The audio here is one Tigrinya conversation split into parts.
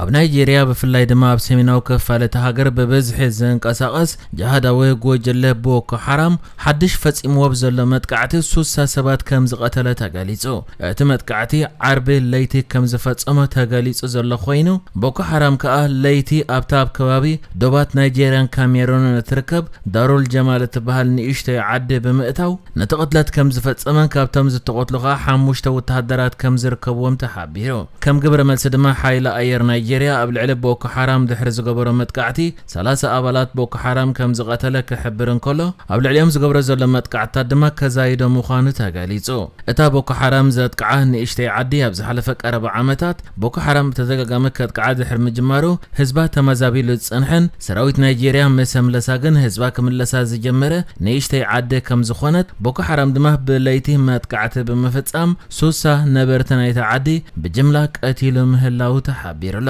ኣብ ናይጀርያ ብፍላይ ድማ ኣብ ሰሜናዊ ክፋል እታ ሃገር ብብዝሒ ዝንቀሳቐስ ጅሃዳዊ ጎጀለ ቦኮ ሓራም ሓድሽ ፈጺምዎ ብዘሎ መጥቃዕቲ ሱሳ ሰባት ከም ዝቐተለ ተገሊጹ። እቲ መጥቃዕቲ ዓርቢ ለይቲ ከም ዝፈጸሞ ተገሊጹ ዘሎ ኮይኑ ቦኮ ሓራም ከኣ ለይቲ ኣብታ ኣብ ከባቢ ዶባት ናይጀርያን ካሜሩንን እትርከብ ዳሩል ጀማል እትበሃል ንእሽቶይ ዓዲ ብምእታው ነቲ ቅትለት ከም ዝፈጸመን ካብቶም ዝተቐትሉ ከኣ ሓሙሽተ ወተሃደራት ከም ዝርከብዎም ተሓቢሩ። ከም ግብረ መልሲ ድማ ሓይሊ ኣየር ናይጀርያ ኣብ ልዕሊ ቦኮ ሓራም ድሕሪ ዝገበሮ መጥቃዕቲ ሰላሳ ኣባላት ቦኮ ሓራም ከም ዝቐተለ ክሕብር እንከሎ ኣብ ልዕሊኦም ዝገብሮ ዘሎ መጥቃዕትታት ድማ ከዛይዶ ምዃኑ ተገሊጹ። እታ ቦኮ ሓራም ዘጥቅዓ ንእሽተይ ዓዲ ኣብ ዝሓለፈ ቀረባ ዓመታት ቦኮ ሓራም ብተደጋጋሚ ከጥቅዓ ድሕሪ ምጅማሩ ህዝባ ተመዛቢሉ ዝጸንሐን ሰራዊት ናይጀርያ ምስ ኣምለሳ ግን ህዝባ ክምለሳ ዝጀመረ ንእሽተይ ዓዲ ከም ዝኾነት ቦኮ ሓራም ድማ ብለይቲ መጥቃዕቲ ብምፍጻም ሱሳ ነበርቲ ናይታ ዓዲ ብጅምላ ቀቲሉ ምህላዉ ተሓቢሩ'ሎ።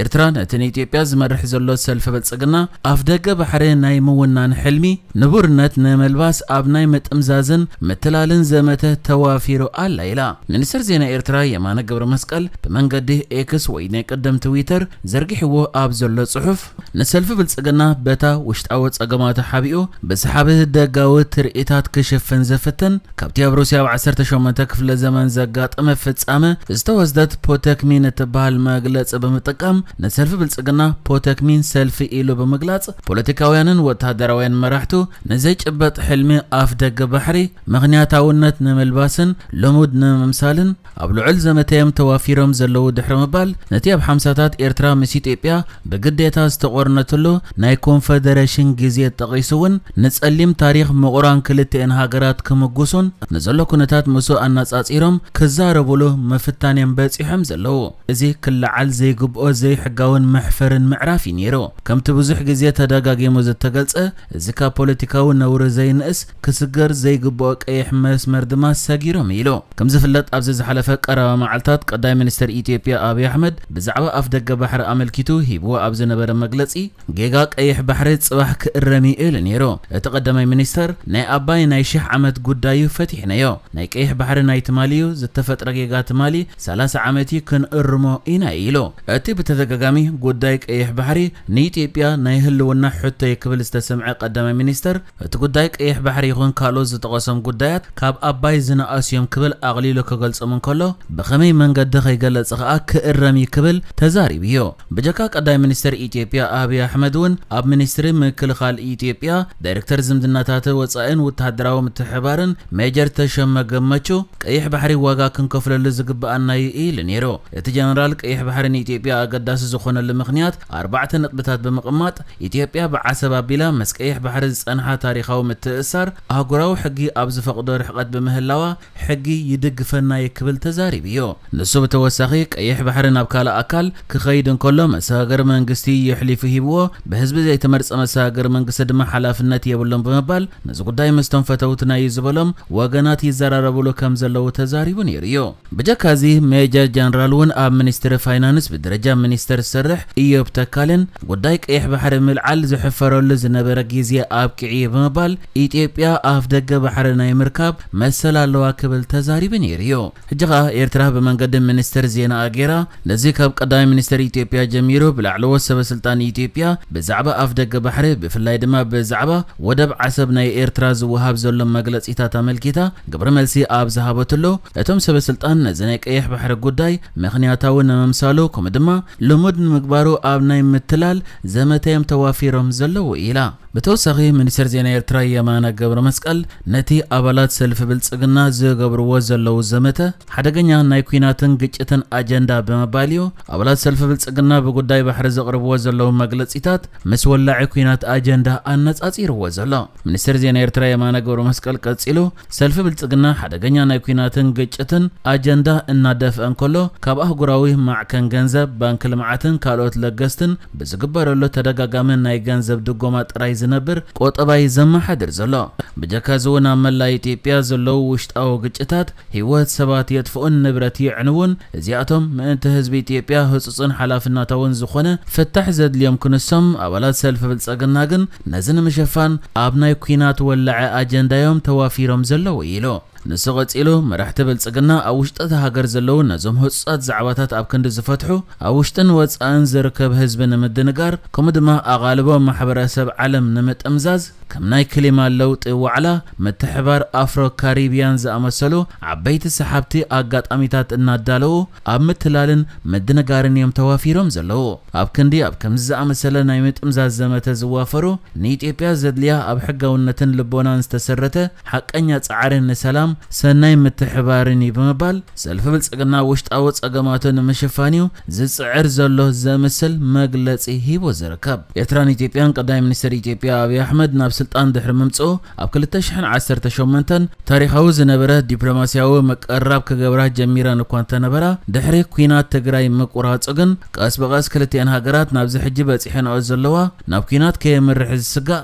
ኤርትራ ነቲ ንኢትዮጵያ ዝመርሕ ዘሎ ሰልፊ ብልጽግና ኣፍደገ ባሕሪ ናይ ምውናን ሕልሚ ንቡርነት ንምልባስ ኣብ ናይ ምጥምዛዝን ምትላልን ዘመተ ተዋፊሩ ኣላ ኢላ። ሚኒስተር ዜና ኤርትራ የማነ ገብረመስቀል ብመንገዲ ኤክስ ወይ ናይ ቀደም ትዊተር ዘርጊሕዎ ኣብ ዘሎ ጽሑፍ፣ ንሰልፊ ብልጽግና በታ ውሽጣዊ ጸገማቱ ሓቢኡ ብሰሓቢ ደጋዊ ትርኢታት ክሽፍን ዝፍትን ካብቲ ኣብ ሩስያ ኣብ ዓሰርተ ሸሞንተ ክፍለ ዘመን ዘጋጠመ ፍጻመ ዝተወስደት ፖተክሚን እትበሃል መግለጺ ብምጥቃም ንሰልፊ ብልጽግና ፖተክሚን ሰልፊ ኢሉ ብምግላጽ ፖለቲካውያንን ወተሃደራውያን መራሕቱ ንዘይጭበጥ ሕልሚ ኣፍ ደገ ባሕሪ ምኽንያታውነት ንምልባስን ልሙድ ንምምሳልን ኣብ ልዑል ዘመተ'ዮም ተዋፊሮም ዘለዉ ድሕሪ ምባል፣ ነቲ ኣብ ሓምሳታት ኤርትራ ምስ ኢትዮጵያ ብግዴታ ዝተቖርነትሉ ናይ ኮንፈደረሽን ግዜ ጠቒሱ'ውን ንጸሊም ታሪኽ ምቑራን ክልቲኤን ሃገራት ክምጉሱን ንዘሎ ኩነታት ምስኡ ኣነጻጺሮም ክዛረቡሉ ምፍታን'ዮም በጺሖም ዘለዉ። እዚ ክለዓል ዘይግብኦ ዘይሕጋውን መሕፈርን ምዕራፍ'ዩ ነይሩ። ከምቲ ብዙሕ ግዜ ተደጋጊሙ ዝተገልጸ፣ እዚ ካብ ፖለቲካዊ ነውሪ ዘይንእስ ክስገር ዘይግብኦ ቀይሕ መስመር ድማ ሰጊሮም ኢሉ። ከምዝፍለጥ ኣብዚ ዝሓለፈ ቀረባ መዓልታት ቀዳይ ሚኒስተር ኢትዮጵያ ኣብይ ኣሕመድ ብዛዕባ ኣፍደገ ባሕሪ ኣመልኪቱ ሂብዎ ኣብ ዝነበረ መግለጺ ጌጋ ቀይሕ ባሕሪ ጽባሕ ክእረም'ዩ ኢሉ ነይሩ። እቲ ቀዳማይ ሚኒስተር ናይ ኣባይ ናይ ሽሕ ዓመት ጉዳይ'ዩ ፈቲሕናዮ፣ ናይ ቀይሕ ባሕሪ ናይ ትማሊ'ዩ፣ ዝተፈጥረ ጌጋ ትማሊ ሰላሳ ዓመት'ዩ ክንእርሞ ኢና ኢሉ። እቲ ብተደጋጋሚ ጉዳይ ቀይሕ ባሕሪ ንኢትዮጵያ ናይ ህልውና ሕቶ'ዩ ክብል ዝተሰምዐ ቀዳማይ ሚኒስተር፣ እቲ ጉዳይ ቀይሕ ባሕሪ ይኹን ካልኦት ዝጠቐሶም ጉዳያት ካብ ኣባይ ዝነኣሱ'ዮም ክብል ኣቕሊሉ ክገልጾም እንከሎ፣ ብኸመይ መንገዲ ከይገለጸ ከኣ ክእረም'ዩ ክብል ተዛሪቡ'ዩ። ብጀካ ቀዳማይ ሚኒስተር ኢትዮጵያ ኣብይ ኣሕመድ'ውን ኣብ ሚኒስትሪ ምክልኻል ኢትዮጵያ ዳይረክተር ዝምድናታት ወጻኢን ወተሃደራዊ ምትሕብባርን ሜጀር ተሾመ ገመቹ፣ ቀይሕ ባሕሪ ዋጋ ክንከፍለሉ ዝግበኣና'ዩ ኢሉ ነይሩ። እቲ ጀነራል ቀይሕ ባሕሪ ንኢትዮጵያ ኣገዳሲ ዝኾነሉ ምኽንያት ኣርባዕተ ነጥብታት ብምቕማጥ ኢትዮጵያ ብዓሰብ ኣቢላ ምስ ቀይሕ ባሕሪ ዝፀንሓ ታሪኻዊ ምትእስሳር ኣህጉራዊ ሕጊ ኣብ ዝፈቕዶ ርሕቐት ብምህላዋ ሕጊ ይድግፈና'ዩ ክብል ተዛሪቡ'ዩ። ንሱ ብተወሳኺ ቀይሕ ባሕሪ ናብ ካልእ ኣካል ክኸይድ እንከሎ መሰጋገሪ መንግስቲ እዩ ኣሕሊፉ ሂብዎ፣ ብህዝቢ ዘይተመርፀ መሰጋገሪ መንግስቲ ድማ ሓላፍነት የብሉን ብምባል ነዚ ጉዳይ ምስቶም ፈተውትና'ዩ ዝበሎም ወገናት ይዘራረብሉ ከምዘለዉ ተዛሪቡ ነይሩ'ዩ። ብጀካ እዚ ሜጀር ጀነራል እውን ኣብ ሚኒስትሪ ፋይናንስ ብደረጃ ሚኒስተር ዝሰርሕ እዮብ ተካልን ጉዳይ ቀይሕ ባሕሪ ምልዓል ዝሕፈረሉ ዝነበረ ግዜ ኣብቂዑ እዩ ብምባል ኢትዮጵያ ኣፍደገ ባሕሪ ናይ ምርካብ መሰል ኣለዋ ክብል ተዛሪቡ ነይሩ እዩ። ሕጂ ከኣ ኤርትራ ብመንገዲ ሚኒስተር ዜናኣ ገይራ ነዚ ካብ ቀዳማይ ሚኒስተር ኢትዮጵያ ጀሚሩ ብላዕለዎት ሰበስልጣን ኢትዮጵያ ብዛዕባ ኣፍደገ ባሕሪ ብፍላይ ድማ ብዛዕባ ወደብ ዓሰብ ናይ ኤርትራ ዝወሃብ ዘሎ መግለጺታት ኣመልኪታ ግብረ መልሲ ኣብ ዝሃበትሉ፣ እቶም ሰበ ስልጣን ነዚ ናይ ቀይሕ ባሕሪ ጉዳይ ምኽንያታዊ ንምምሳሉ ከምኡ ድማ ልሙድ ንምግባሩ ኣብ ናይ ምትላል ዘመተ'ዮም ተዋፊሮም ዘለዉ ኢላ። ብተወሳኺ ሚኒስተር ዜና ኤርትራ የማነ ገብረመስቀል ነቲ ኣባላት ሰልፊ ብልጽግና ዝገብርዎ ዘለዉ ዘመተ፣ ሓደገኛ ናይ ኲናትን ግጭትን ኣጀንዳ ብምባል እዩ። ኣባላት ሰልፊ ብልጽግና ብጉዳይ ባሕሪ ዘቕርብዎ ዘለዉ መግለጺታት ምስ ወላዒ ኲናት ኣጀንዳ ኣነጻጺርዎ ዘሎ ሚኒስተር ዜና ኤርትራ የማነ ገብረመስቀል ቀጺሉ ሰልፊ ብልጽግና ሓደገኛ ናይ ኲናትን ግጭትን ኣጀንዳ እናደፍአ እንከሎ ካብ ኣህጉራዊ ማዕከን ገንዘብ፣ ባንኪ ልምዓትን ካልኦት ለገስትን ብዝግበረሉ ተደጋጋሚ ናይ ገንዘብ ድጎማ ጥራይ ዝነብር ቁጠባ'ዩ ዘመሓድር ዘሎ። ብጀካ'ዚ'ውን ኣብ መላእ ኢትዮጵያ ዘለዉ ውሽጣዊ ግጭታት፣ ህይወት ሰባት የጥፍኡን ንብረት የዕንዉን፣ እዚኣቶም ምእንቲ ህዝቢ ኢትዮጵያ ህጹጽን ሓላፍናታውን ዝኾነ ፍታሕ ዘድልዮም ክንሶም፣ ኣባላት ሰልፊ ብልጸግና ግን ነዚ ንምሽፋን ኣብ ናይ ኲናት ወላዐ ኣጀንዳ'ዮም ተዋፊሮም ዘለዉ ኢሉ። ንሱ ቀጺሉ፣ መራሕቲ ብልጽግና ኣብ ውሽጢ'ታ ሃገር ዘለዉ ነዞም ህጹጻት ዛዕባታት ኣብ ክንዲ ዝፈትሑ፣ ኣብ ውሽጥን ወጻእን ዝርከብ ህዝቢ ንምድንጋር ከምኡ ድማ ኣቓልቦ ማሕበረ ሰብ ዓለም ንምጥምዛዝ፣ ከም ናይ ክሊማ ለውጢ ዋዕላ፣ ምትሕብባር ኣፍሮ ካሪብያን ዝኣመሰሉ ዓበይቲ ሰሓብቲ ኣጋጣሚታት እናዳለዉ ኣብ ምትላልን ምድንጋርን እዮም ተዋፊሮም ዘለዉ። ኣብ ክንዲ ኣብ ከምዚ ዝኣመሰለ ናይ ምጥምዛዝ ዘመተ ዝዋፈሩ፣ ንኢትዮጵያ ዘድልያ ኣብ ሕጋውነትን ልቦናን ዝተሰረተ ሓቀኛ ፃዕሪ ንሰላም፣ ሰናይ ምትሕብባርን ዩ ብምባል ሰልፊ ብልፅግና ውሽጣዊ ፀገማቱ ንምሽፋን ዩ ዝፅዕር ዘሎ ዘምስል መግለፂ ሂቡ ዝርከብ። ኤርትራን ኢትዮጵያን ቀዳማይ ሚኒስተር ኢትዮጵያ ኣብይ ኣሕመድ ናብ ስልጣን ድሕሪ ምምፅኡ ኣብ ክልተ ሽሕን ዓሰርተ ሸሞንተን ታሪኻዊ ዝነበረ ዲፕሎማሲያዊ ምቅርራብ ክገብራ ጀሚረን እኳ እንተነበራ ድሕሪ ኲናት ትግራይ ምቁራፁ ግን ቀስ ብቐስ ክልቲኤን ሃገራት ናብዚ ሕጂ በፂሐንኦ ዘለዋ ናብ ኲናት ከየምርሕ ዝስጋእ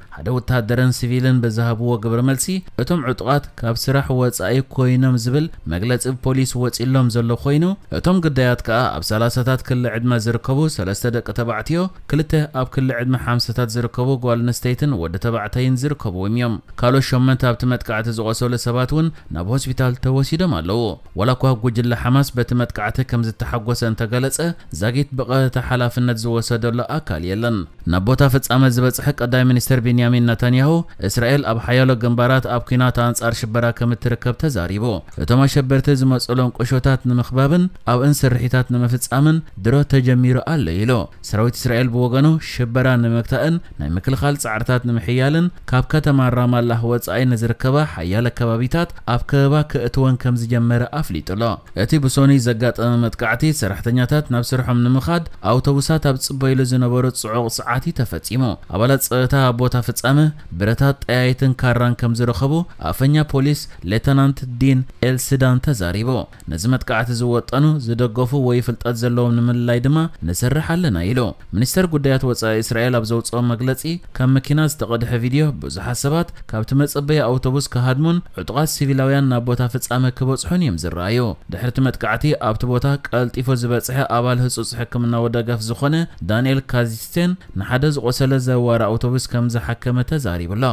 ሓደ ወተሃደርን ሲቪልን ብዝሃብዎ ግብረ መልሲ፣ እቶም ዕጡቓት ካብ ስራሕ ወጻኢ ኮይኖም ዝብል መግለጺ ብፖሊስ ወጺኡሎም ዘሎ ኮይኑ፣ እቶም ግዳያት ከኣ ኣብ ሰላሳታት ክሊ ዕድመ ዝርከቡ ሰለስተ ደቂ ተባዕትዮ፣ ክልተ ኣብ ክሊ ዕድመ ሓምሳታት ዝርከቡ ጓል ኣንስተይትን ወዲ ተባዕታይን ዝርከብዎም እዮም። ካልኦት ሸሞንተ ኣብቲ መጥቃዕቲ ዝቖሰሉ ሰባት እውን ናብ ሆስፒታል ተወሲዶም ኣለዉ። ዋላኳ ጉጅለ ሓማስ በቲ መጥቃዕቲ ከምዝተሓጎሰ እንተገለጸ፣ ዛጊት ብቐጥታ ሓላፍነት ዝወሰደሉ ኣካል የለን። ናብ ቦታ ፍጻመ ዝበጽሐ ቀዳማይ ሚኒስተር ቤንያሚን ነታንያሁ፣ እስራኤል ኣብ ሓያሎ ግንባራት ኣብ ኲናት ኣንጻር ሽበራ ከምትርከብ ተዛሪቡ። እቶም ኣሸበርቲ ዝመጽኡሎም ቁሾታት ንምኽባብን ኣብእን ስርሒታት ንምፍጻምን ድሮ ተጀሚሩ ኣሎ ኢሉ። ሰራዊት እስራኤል ብወገኑ፣ ሽበራ ንምግታእን ናይ ምክልኻል ጻዕርታት ንምሕያልን፣ ካብ ከተማ ራማላህ ወጻኢ ንዝርከባ ሓያለ ከባቢታት ኣብ ከበባ ከእትወን ከምዝጀመረ ኣፍሊጡ'ሎ። እቲ ብሶኑይ ዘጋጠመ መጥቃዕቲ፣ ሰራሕተኛታት ናብ ስርሖም ንምኻድ ኣውቶቡሳት ኣብ ዝጽበዩሉ ዝነበሩ ጽዑቕ ሰዓት'ዩ ተፈጺሙ። ኣባላት ጸጥታ ኣብ ቦታ ፍጻመ፣ ብረታት፣ ጠያይትን ካራን ከምዝረኸቡ ኣፈኛ ፖሊስ ሌተናንት ዲን ኤልስዳን ተዛሪቡ። ነዚ መጥቃዕቲ ዝወጠኑ፣ ዝደገፉ ወይ ፍልጠት ዘለዎም ንምልላይ ድማ ንሰርሕ ኣለና ኢሉ። ሚኒስተር ጉዳያት ወጻኢ እስራኤል ኣብ ዘውጽኦ መግለጺ፣ ካብ መኪና ዝተቐድሐ ቪድዮ፣ ብዙሓት ሰባት ካብቲ መጸበዪ ኣውቶቡስ ክሃድሙን ዕጡቓት ሲቪላውያን ናብ ቦታ ፍጻመ ክበጽሑን እዮም ዝረኣዩ። ድሕሪ'ቲ መጥቃዕቲ ኣብቲ ቦታ ቀልጢፉ ዝበጽሐ ኣባል ህጹጽ ሕክምናዊ ደገፍ ዝዀነ ዳንኤል ካዚትሴን፣ ንሓደ ዝቖሰለ ዘዋሪ ኣውቶቡስ ከም ዝሓከመ ተዛሪቡ'ሎ።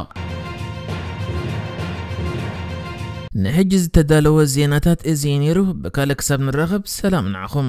ንሕጂ ዝተዳለወ ዜናታት እዚ እዩ ነይሩ፣ ብካልእ ክሳብ ንራኸብ ሰላም ንዓኹም።